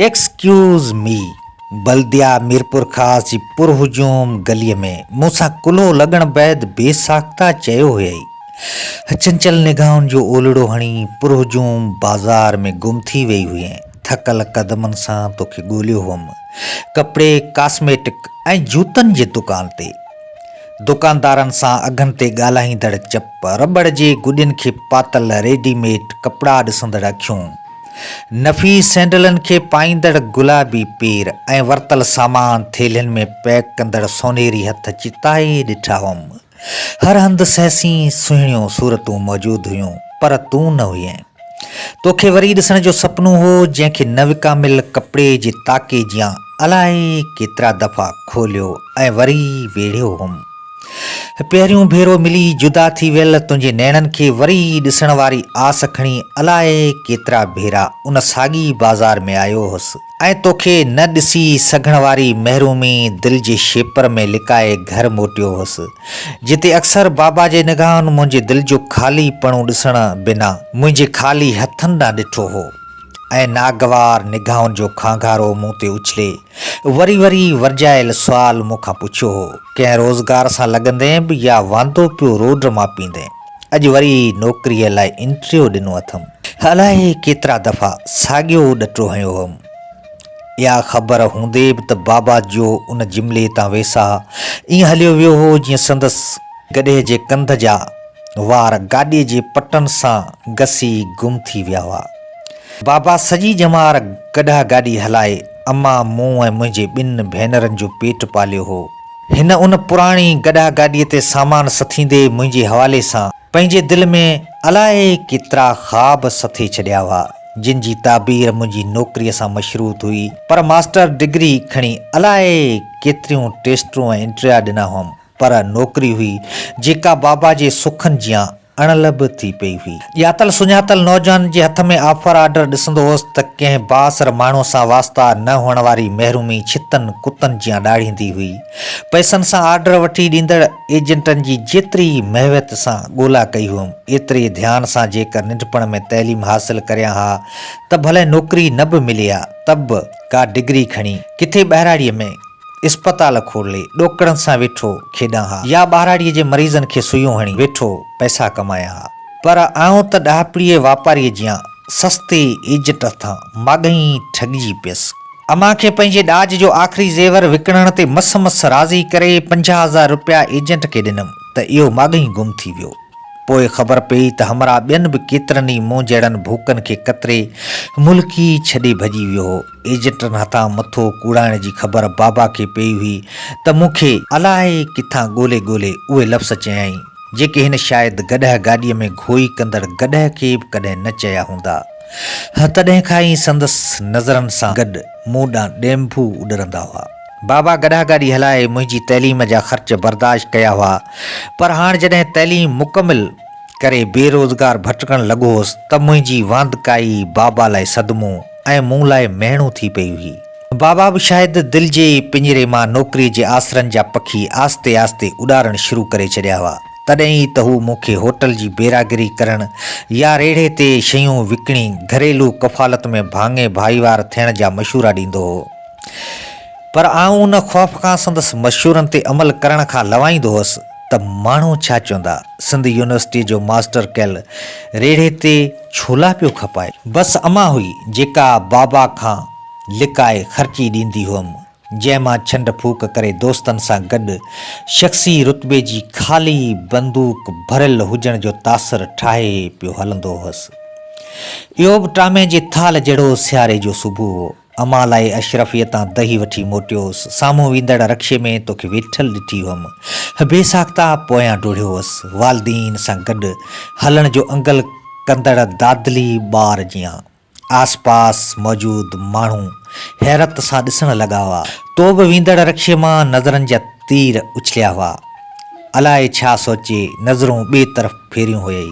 Excuse me, بلديا ميرپورخاص جي پر هجوم گليء ۾ مون سان ڪلهو لڳڻ بعد بي ساخته چيو هيائي. چنچل نگاهن جو اولڙو هڻي پر هجوم بازار ۾ گم ٿي ويئي هئين. ٿڪل قدمن سان توکي ڳوليو هئم. ڪپڙي، ڪاسميٽڪ ۽ جوتن جي دڪان تي. دڪاندارن سان اگهن تي ڳالهائيندڙ چپ، رٻڙ جي گڏين کي پاتل ريڊي ميڊ ڪپڙا ڏسندڙ اکيون، نفيس سينڊلن کي پائيندڙ گلابي پير ۽ ورتل سامان ٿيلهين ۾ پيڪ ڪندڙ سونهري هٿ چتائي ڏٺا هئم. هر هنڌ سهسين سهڻيون صورتون موجود هيون، پر تون نه هئين. تو کي وري ڏسڻ جو سپنو هو، جنهن کي نه وڪاميل ڪپڙي جي تاڪي جيان الائي ڪيترا دفعا کوليو ۽ وري ويڙهيو هوم. هي پهريون ڀيرو ملي جدا ٿي ويل تنهنجي نيڻن کي وري ڏسڻ واري آس کڻي الائي ڪيترا ڀيرا ان ساڳي بازار ۾ آيو هوس. ۽ توکي نه ڏسي سگهڻ واري محرومي دل جي شيپر ۾ لڪائي گهر موٽيو هوس، جتي اڪثر بابا جي نگاهن منهنجي دل جو خالي پڻو ڏسڻ بنا منهنجي خالي هٿن ڏانهن ڏٺو هو ۽ ناگوار نگاهن جو کانگهارو مون تي اڇلي وري وري ورجايل سوال مون کان پڇيو هو، ڪنهن روزگار سان لڳندين به يا واندو پيو روڊ ماپيندين؟ اڄ وري نوڪريء لاء انٽرويو ڏنو اٿم. الائي ڪيترا دفعا ساڳيو ڏٽو هنيو هئم. اها خبر هوندي به ته بابا جو ان جملي تان ويساهه ائين هليو ويو هو جيئن سندس گڏهه جي ڪنڌ جا وار گاڏيء جي پٽن سان گسي گم ٿي ويا هئا. بابا سڄي ڄمار گڏهه گاڏي هلائي امان، مون ۽ منهنجي ٻن ڀينرن جو پيٽ پاليو هو. هن ان پراڻي گڏهه گاڏيء تي سامان سٿيندي منهنجي حوالي سان پنهنجي دل ۾ الائي ڪيترا خواب سٿي ڇڏيا هئا، جن جي تعبير منهنجي نوڪريء سان مشروط هئي، پر ماسٽر ڊگري کڻي الائي ڪيتريون ٽيسٽون ۽ انٽريا ڏنا هئم، پر نوڪري هئي، جيڪا بابا جي سکن جيان اڻلڀ ٿي پئي هئي. ڄاتل سڃاتل نوجوانن جي هٿ ۾ آفر آرڊر ڏسندو هوس ته ڪنهن بااثر ماڻهو سان واسطا نه هئڻ واري محرومي ڇتن ڪتن جيان ڏاڙهيندي هئي. پئسن سان آرڊر وٺي ڏيندڙ ايجنٽن جي جيتري ئي محويت سان ڳولا ڪئي هئم ايتري ڌيان سان جيڪر ننڍپڻ ۾ تعليم حاصل ڪريان ها ته ڀلئي نوڪري نه به ملي ها ته به ڪا ڊگري کڻي ڪٿي ٻهراڙيء ۾ اسپتال کولي ڏوڪڙن سان ويٺو کيڏان ها يا ٻهراڙيء جي مريضن کي سوئيون هڻي ويٺو پئسا ڪمايان ها پر آئون ته ڏاهپڙيء واپاريء جيان سستي ايجٽ هٿان ماڳهين ئي ٺڳجي پيس. امان کي پنهنجي ڏاج جو آخري زيور وڪڻڻ تي مس مس راضي ڪري پنجاهه هزار رپيا ايجنٽ کي ڏنم ته اهو ماڳهين گم ٿي ويو. پوء خبر پيئي ته همراهه ٻين به ڪيترن ئي مون جهڙن ڀوڪن کي ڪتري ملڪ ئي ڇڏي ڀڄي ويو هو. ايجنٽن هٿان مٿو ڪوڙائڻ جي خبر بابا کي پيئي هئي ته مون کي الائي ڪٿان ڳولي ڳولي اهي لفظ چيائين، جيڪي هن شايد گڏهه گاڏيء ۾ گهوئي ڪندڙ گڏهه کي به ڪڏهن نه چيا هوندا. تڏهن کان ئي سندس نظرن سان گڏ مون ڏانهن ڏينڀو اڏرندا هئا. بابا گڏهه گاڏي هلائي منهنجي تعليم جا خرچ برداشت ڪيا هئا، پر هاڻ جڏهن تعليم مڪمل ڪري بي روزگار ڀٽڪڻ لڳو هوس ته منهنجي واندڪائي بابا لاء صدمو، ۽ مون لاء مهڻو ٿي پئي هئي. بابا به شايد دل جي ئي پڃري مان نوڪريء جي آسرن جا پکي آهستي آهستي اڏارڻ شروع ڪري ڇڏيا هئا. تڏهن ئي ته هو مون کي هوٽل جي بيراگري ڪرڻ يا ريڙهي تي شيون وڪڻي گهريلو ڪفالت ۾ ڀاڱي ڀائيوار ٿيڻ جا مشورا ڏيندو هو. پر آئون ان خوف کان سندس مشورن تي عمل ڪرڻ کان لوائيندو هوس. ته ماڻهو ڇا چوندا، سنڌ يونيورسٽيء جو ماسٽر ڪيل ريڙهي تي ڇولا پيو کپائي. بس امان هئي، جيڪا بابا کان لڪائي خرچي ڏيندي هئم، جنهن مان ڇنڊ ڦوڪ ڪري دوستن سان گڏ شخصي رتبي جي خالي بندوق ڀريل هجڻ جو تاثر ٺاهي پيو هلندو هوس. اهو به ٽامي جي ٿالهه جهڙو سياري جو صبح هو. امان لاء اشرفيء تان دهي وٺي موٽيوس. سامهون ويندڙ رڪشي ۾ توکي ويٺل ڏٺي هئم. بي ساخته پويان ڊوڙيو هئس. والدين سان گڏ هلڻ جو انگل ڪندڙ دادلي ٻار جيان. آس پاس موجود ماڻهو حيرت سان ڏسڻ لڳا هئا. تو به ويندڙ رڪشي مان نظرن جا تير اڇليا هئا. الائي ڇا سوچي نظرون ٻئي طرف ڦيريون هيئي.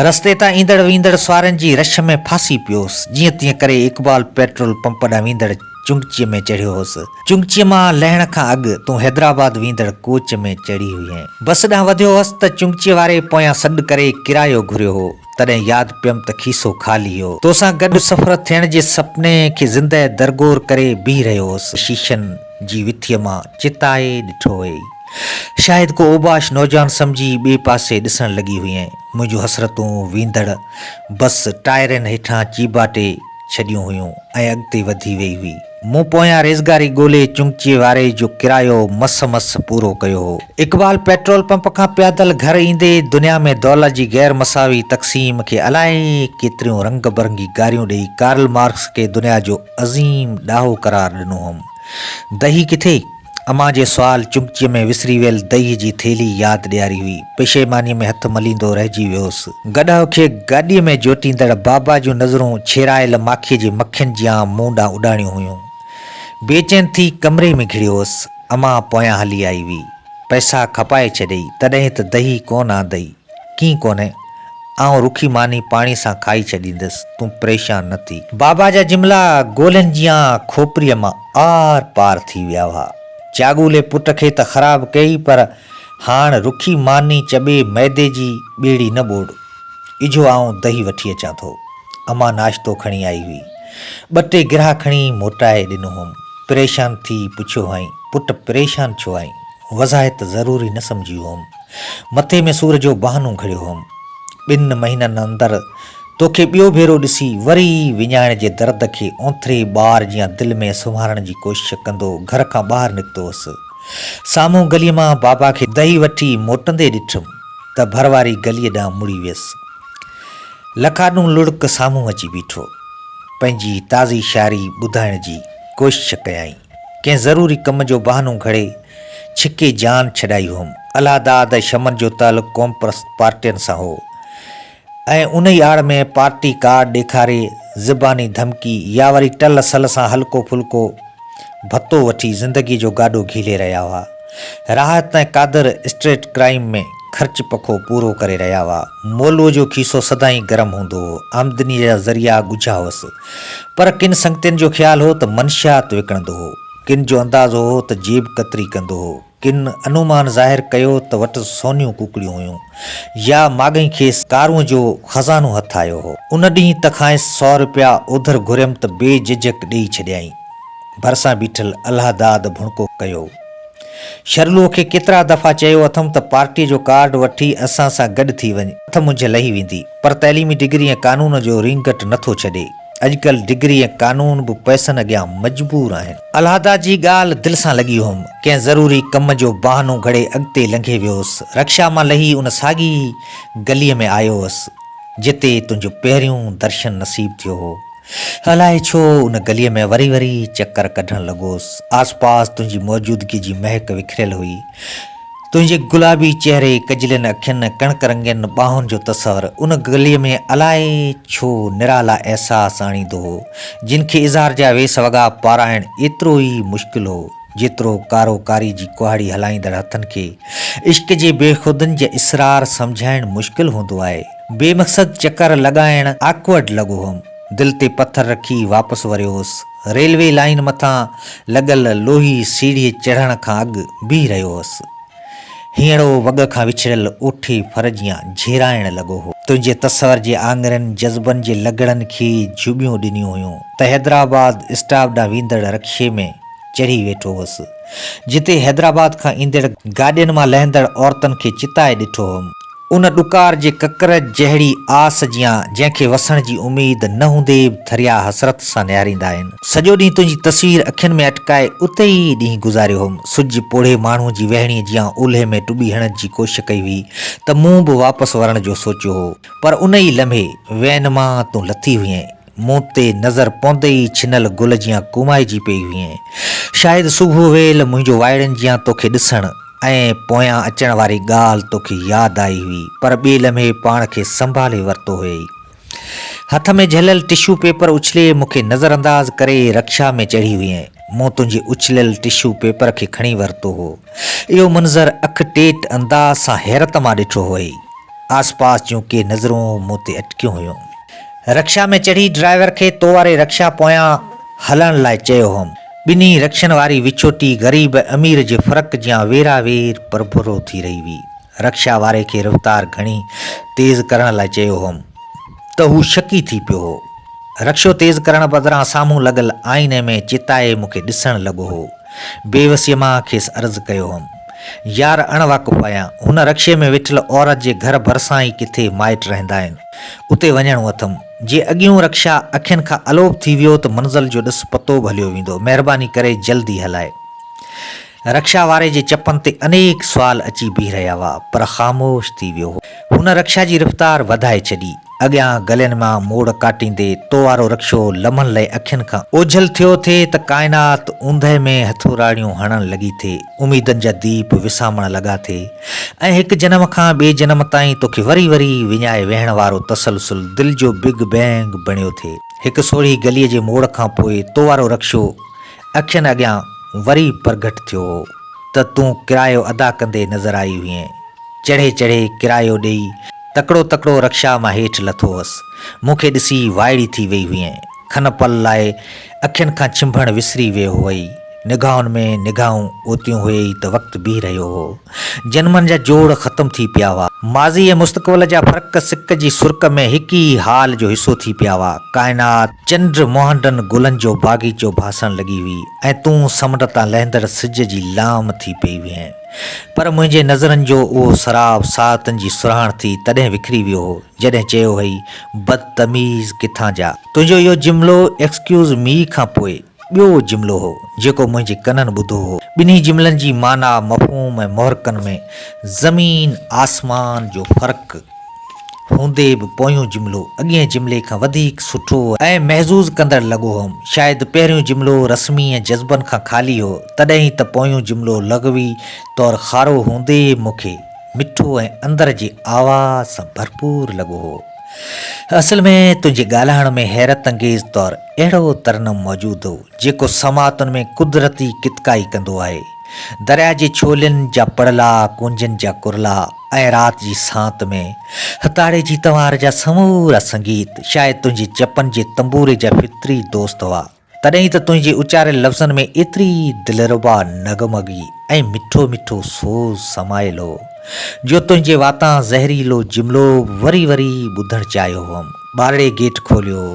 رستي تان ايندڙ ويندڙ سوارين جي رش ۾ ڦاسي پيوس. جيئن تيئن ڪري اقبال پيٽرول پمپ ڏانهن ويندڙ چنگچيء ۾ چڙهيو هوس. چنگچيء مان لهڻ کان اڳ تون حيدرآباد ويندڙ ڪوچ ۾ چڙهي هئين. بس ڏانهن وڌيو هوس ته چنگچيء واري پويان سڏ ڪري ڪرايو گهريو هو. تڏهن ياد پيم ته کيسو خالي هو. توسان گڏ سفر ٿيڻ جي سپني کي زندهه درگور ڪري بيهي رهيو هوس. شيشن جي وٿيء مان چتائي ڏٺو هئي. شايد ڪو اوباش نوجوان سمجهي ٻئي پاسي ڏسڻ لڳي هئين. منهنجون حسرتون ويندڙ بس ٽائرن هيٺان چيڀاٽي ڇڏيون هيون ۽ اڳتي وڌي ويئي هئي. مون پويان ريزگاري ڳولي چنگچي واري جو ڪرايو مس مس پورو ڪيو هو. اقبال پيٽرول پمپ کان پيادل گهر ايندي دنيا ۾ دولت جي غير مساوي تقسيم کي الائي ڪيتريون رنگ برنگي گاريون ڏئي ڪارل مارڪس کي دنيا جو عظيم ڏاهو قرار ڏنو هئم. دهي ڪٿي؟ امان جي سوال چمچيء ۾ وسري ويل دئي جي ٿيلهي ياد ڏياري هئي. پشيمانيء ۾ هٿ مليندو رهجي ويو هوس. گڏهه کي گاڏيء ۾ جوٽيندڙ بابا جون نظرون ڇيڙايل ماکيء جي مکين جيان مون ڏانهن اڏاڻيون هيون. بيچين ٿي ڪمري ۾ گهڙيو هوس. امان پويان هلي آئي هئي. پئسا کپائي ڇڏيئي، تڏهين ته دئي ڪونه آندئي. ڪي ڪونهي، آئون رکي ماني پاڻي سان کائي ڇڏيندس، تون پريشان نه ٿي. بابا جا جملا گولين جيان کوپريء مان آر پار ٿي ويا هئا. چاڳولي پٽ کي ته خراب ڪيئي پر هاڻ رکي ماني چٻي ميدي جي ٻيڙي نه ٻوڙ. اجهو آئون دهي وٺي اچان ٿو. امان ناشتو کڻي آئي هئي. ٻه ٽي گرها کڻي موٽائي ڏنو هئم. پريشان ٿي پڇيو هئائين، پٽ پريشان ڇو آهين؟ وضاحت ضروري نه سمجهي هئم. مٿي ۾ سور جو بهانو گهڙيو هئم. ٻن مهينن اندر توکي ٻيو ڀيرو ڏسي وري وڃائڻ جي درد کي اونٿري ٻار جيان دل ۾ سنوارڻ جي ڪوشش ڪندو گهر کان ٻاهر نڪتو هوس. سامهون گلي مان بابا کي دهي وٺي موٽندي ڏٺم ته ڀر واري گلي ڏانهن مڙي ويس. لکاڏون لڙڪ سامهون اچي بيٺو. پنهنجي تازي شاعري ٻڌائڻ جي ڪوشش ڪيائين. ڪنهن ضروري ڪم جو بهانو گهڙي، ڇڪي جان ڇڏائي هئم. الهه داد ۽ شمن جو تعلق قومپرست پارٽين سان هو ۽ انهي آڙ ۾ پارٽي ڪارڊ ڏيکاري، زباني ڌمڪي يا وري ٽل سل سان هلڪو ڦلڪو ڀتو وٺي زندگي جو گاڏو گهيلي رهيا هئا. راحت ۽ قادر اسٽريٽ ڪرائيم ۾ خرچ پکو پورو ڪري رهيا هئا. مولوء جو کيسو سدائين گرم هوندو هو. آمدنيء جا ذريعا ڳجها هئس. پر ڪن سنگتين جو خيال هو ته منشيات وڪڻندو هو، ڪن جو اندازو هو ته جيب ڪتري ڪندو هو، ڪن انومان ظاهر ڪيو ته وٽس سونيون ڪوڪڙيون هيون يا ماڳهين کيس ڪارونء جو خزانو هٿ آيو هو. ان ڏينهن ته کانئس سؤ رپيا اوڌر گهريم ته بي جهجهڪ ڏيئي ڇڏيائين. ڀرسان بيٺل الهه داد ڀڻڪو ڪيو. شرلوء کي ڪيترا دفعا چيو اٿم ته پارٽيء جو ڪارڊ وٺي اسان سان گڏ ٿي وڃ، اٿ منجهه لهي ويندي، پر تعليمي ڊگري ۽ قانون جو رينگٽ نه ٿو ڇڏي. اڄڪلهه ڊگري ۽ قانون به پئسن اڳيان مجبور آهن. الهديٰ جي ڳالهه دل سان لڳي هئم. ڪنهن ضروري ڪم جو بهانو گهڙي اڳتي لنگهي ويوس. رڪشا مان لهي ان ساڳي ئي گليء ۾ آيو هوس، جتي تنهنجو پهريون درشن نصيب ٿيو هو. الائي ڇو ان گليء ۾ وري وري چڪر ڪڍڻ لڳوس. آس پاس تنهنجي موجودگيء جي مهڪ وکريل هئي. تنهنجي گلابي چهري، ڪجلين اکين، ڪڻڪ رنگين ٻانهن جو تصور ان گليء ۾ الائي ڇو نرالا احساس آڻيندو هو، جن کي اظهار جا ويس وڳا پارائڻ ايترو ئي مشڪل هو، جيترو ڪارو ڪاري جي ڪهاڙي هلائيندڙ هٿن کي عشق جي بيخودن جي اسرار سمجهائڻ مشڪل هوندو آهي. بي مقصد چڪر لڳائڻ Awkward لڳو هئم. دل تي پٿر رکي واپس وريو هوس. ريلوي لائين مٿان لڳل لوهي سيڙهيء چڙهڻ کان اڳ بيهي رهيو هوس. هينئڙو وڳ کان وڇڙيل اوٺي ڦر جيان جهيرائڻ لڳو هو. تنهنجي تصور جي آڱرين جذبن جي لڳڙن کي جهٻيون ڏنيون هيون ته حيدرآباد اسٽاپ ڏانهن ويندڙ رڪشي ۾ چڙهي ويٺو هوس، جتي حيدرآباد کان ايندڙ گاڏين مان لهندڙ عورتن کي چتائي ڏٺو هئم. ان ڏڪار جي ڪڪر جهڙي آس جيان، جنهن کي وسڻ جي اميد نه هوندي به ٿريا حسرت سان نهاريندا آهن. سڄو ڏينهن تنهنجي تصوير اکين ۾ اٽڪائي اتي ئي ڏينهن گذاريو هوم. سج پوڙهي ماڻهوء جي ويهڻيء جيان اولهي ۾ ٽٻي هڻج جي ڪوشش ڪئي هئي ته مون به واپس ورڻ جو سوچيو هو. پر ان ئي لمحي، وين مان تون لٿي هئين. مون تي نظر پوندي ئي ڇنل گل جيان ڪومائجي پئي هئين. شايد صبح ويل منهنجو وائڙن جيان توکي ڏسڻ ۽ پويان اچڻ واري ڳالهه توکي ياد آئي هئي پر ٻئي لمحي پاڻ کي سنڀالي ورتو هيئي. هٿ ۾ جهليل ٽشو پيپر اڇلي مون کي نظر انداز ڪري رڪشا ۾ چڙهي هئين. مون تنهنجي اڇليل ٽشو پيپر کي کڻي ورتو هو. اهو منظر اک ٽيٽ انداز سان حيرت مان ڏٺو هئي. آسپاس جون ڪي نظرون مون تي اٽڪيون هيون. رڪشا ۾ چڙهي ڊرائيور کي تو واري رڪشا پويان هلڻ لاء چيو هوم. ٻنهي رڪشن واري وڇوٽي غريب ۽ امير جي فرق جيان ويرا وير پرڀرو ٿي رهي هئي. رڪشا واري کي رفتار گهڻي تيز ڪرڻ لاء چيو هوم ته هو شڪي ٿي پيو هو. رڪشو تيز ڪرڻ بدران سامهون لڳل آئيني ۾ چتائي مون کي ڏسڻ لڳو هو. بيوسيء مان کيس عرض ڪيو هوم. يار اڻ واقف آهيان. هن رڪشي ۾ ويٺل عورت جي گهر ڀرسان ئي ڪٿي مائٽ رهندا آهن. اتي وڃڻو اٿم. جي اڳيون رڪشا اکين کان الوپ ٿي ويو ته منزل جو ڏس پتو به هليو ويندو. مهرباني ڪري جلدي هلائي. رڪشا واري جي چپن تي انيڪ سوال اچي بيهي رهيا هئا، پر خاموش ٿي ويو هو. هن رڪشا جي رفتار وڌائي ڇڏي. اڳيان گلين مان موڙ ڪاٽيندي تو وارو رڪشو لمحن لئه اکين کان اوجهل ٿيو ٿي ته ڪائنات اوندهه ۾ هٿوراڙيون هڻڻ لڳي ٿي. اميدن جا ديپ وسامڻ لڳا ٿي. ۽ هڪ جنم کان ٻئي جنم تائين توکي وري وري وڃائي ويهڻ وارو تسلسل دل جو بگ بينگ بڻيو ٿئي. هڪ سورهيه گليء جي موڙ کان پوء تو وارو رڪشو اکين اڳيان وري پرگهٽ ٿيو هو ته تون ڪرايو ادا ڪندي نظر آئي هئين. چڙهي چڙهي ڪرايو ڏيئي تڪڙو تڪڙو رڪشا مان هيٺ لٿو هوس. مون کي ڏسي وائڙي ٿي وئي هئين. کن پل لاء اکين کان ڇنڀڻ وسري ويو هئي. نگاهن ۾ نگاهون اوتيون هئي ئي ته وقت بيهي رهيو هو. جنمن جا جوڙ ختم ٿي پيا هئا. ماضي ۽ مستقبل جا فرق سڪ جي سرڪ ۾ هڪ ئي حال جو حصو ٿي پيا هئا. ڪائنات، چنڊ، مهنڊن گلن جو باغيچو ڀاسڻ لڳي هئي ۽ تون سمنڊ تان لهندڙ سج جي لام ٿي پئي هئين. پر منهنجي نظرن جو اهو سراب ساعتن جي سرهاڻ ٿي تڏهن وکري ويو هو جڏهن چيو هئي، بدتميز ڪٿان جا. تنهنجو اهو جملو Excuse Me کان پوء. ٻيو جملو هو، جيڪو منهنجي ڪنن ٻڌو هو. ٻنهي جملن جي معنيٰ، مفهوم ۽ محرڪن ۾ زمين آسمان جو فرق هوندي به پويون جملو اڳئين جملي کان وڌيڪ سٺو ۽ محظوظ ڪندڙ لڳو هوم. شايد پهريون جملو رسمي ۽ جذبن کان خالي هو، تڏهن ئي ته پويون جملو لغوي طور کارو هوندي مون کي مٺو ۽ اندر جي آواز سان ڀرپور لڳو هو. اصل ۾ تنهنجي ڳالهائڻ ۾ حيرت انگيز طور اهڙو ترنم موجود هو، جيڪو سماعتن ۾ قدرتي ڪتڪائي ڪندو آهي. درياء جي ڇولين جا پڙلا، ڪونجن جا ڪرلا ۽ رات جي سانت ۾ هتاڙي جي تنوار جا سمورا سنگيت شايد تنهنجي چپن جي تنبوري جا فطري دوست هئا. تڏهن ئي ته تنهنجي اچاريل لفظن ۾ ايتري دلربا نغمگي ۽ مٺو مٺو سوز سمايل هو، جو تنهنجي واتان زهريلو جملو وري وري ٻڌڻ چاهيو هئم. ٻارڙي گيٽ کوليو.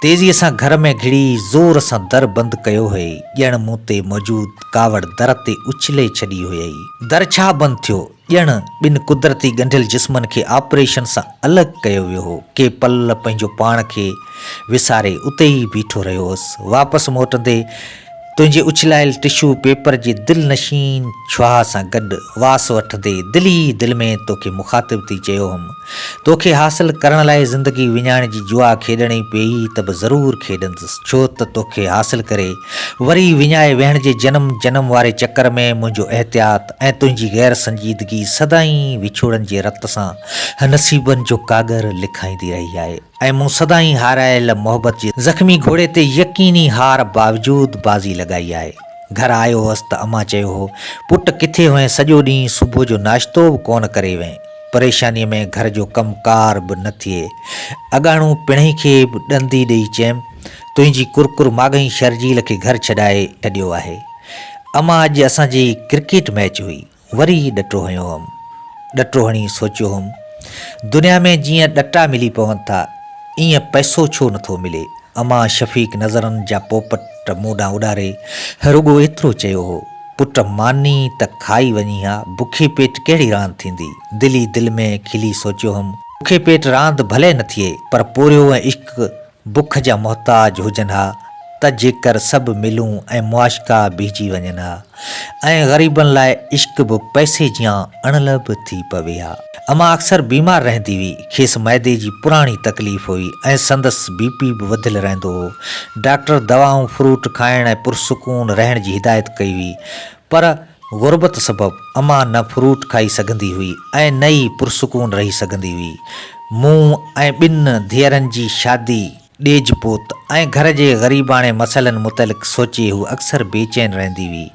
تيزيء سان گهر ۾ گهڙي زور سان در بند ڪيو هئي، ڄڻ مون تي موجود ڪاوڙ در تي اڇلي ڇڏي هئي. در ڇا بند ٿيو؟ ڄڻ ٻن قدرتي ڳنڍيل جسمن کي آپريشن سان الڳ ڪيو ويو هو. ڪي پل پنهنجو پاڻ کي وساري اتي ئي بيٺو رهيو هوس. واپس موٽندي تنهنجي اڇلايل ٽشو پيپر جي دل نشين ڇهاء سان گڏ واس وٺندي دل ئي دل ۾ توکي مخاطب ٿي چيو هوم، توکي حاصل ڪرڻ لاء زندگي وڃائڻ جي جوا کيڏڻي پيئي ته به ضرور کيڏندس ڇو ته توکي حاصل ڪري وري وڃائي ويهڻ جي جنم جنم واري چڪر ۾ منهنجو احتياط ۽ تنهنجي غير سنجيدگي سدائين وڇوڙن جي رت سان نصيبن جو ڪاڳر لکائيندي رهي آهي ۽ مون سدائين هارايل محبت جي زخمي گهوڙي تي يقيني هار باوجود بازي لڳائي آهي. گهر آيو هوس ته امان چيو هو، پٽ ڪٿي هئين سڄو ڏينهن صبح جو ناشتو به ڪونه ڪري وئين. پريشانيء ۾ گهر جو ڪم ڪار به نه ٿئي. اڳاڻو پڻهئي کي به ڏندي ڏئي چيم، تنهنجي ڪرڪر ماڳهين شرجيل کي گهر ڇڏائي ڇڏيو آهي. اما اڄ اسان جي ڪرڪيٽ ميچ هئي وري ڏٽو هنيو هئم. ڏٽو هڻي سوچيو هئم دنيا ۾ جيئن ڏٽا ملي پون ٿا ايئن پئسو ڇو نه ٿو ملي. اما شفيق نظرن جا پوپٽ مون ڏانهن اڏاري رڳو ايترو چيو هو پٽ ماني ته کائي وڃي ها بکي پيٽ ڪهڙي راند ٿيندي. دل ئي دل ۾ کلي سوچيو هئم. بکي پيٽ راند ڀلي نه ٿئي پر پورهيو ۽ عشق بک جا محتاج هجن ها ته جيڪر سڀ ملون ۽ معاشقا بيهجي وڃن ها ۽ غريبن لاء عشق به پئسي جيان اڻلڀ ٿي پوي ها. امان اڪثر بيمار رهندي هئي. کيس معدي جي پراڻي تڪليف هئي ۽ سندس بي پي به وڌيل رهندو هو. ڊاڪٽر دوائون، فروٽ کائڻ ۽ پرسڪون رهڻ جي هدايت ڪئي هئي پر غربت سبب اما نه فروٽ کائي سگهندي هئي ۽ نه ئي پرسڪون رهي سگهندي هئي. مون ۽ ٻن ڌيئرن جي شادي، ڏيج پوت ۽ گهر جي غريباڻي مسئلن متعلق سوچي هو اڪثر بي چين رهندي هئي.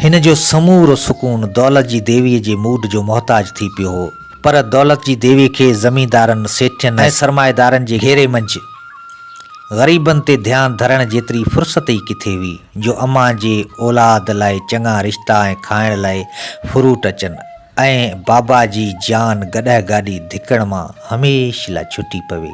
هن جو سمورو سڪون دولت جي ديوي جي موڊ جو محتاج ٿي پيو هو. پر دولت جي ديوي کي زميندارن، سيٺين ۽ سرمائيدارن جي گهيري منجهه غريبن تي ڌيان ڌرڻ جيتري فرصت ئي ڪٿي هئي. جو امان جي اولاد لاء چڱا رشتا ۽ کائڻ لاء فروٽ اچن ۽ بابا جي جيان گڏهه گاڏي ڌڪڻ مان هميشھ لاء ڇٽي پوي.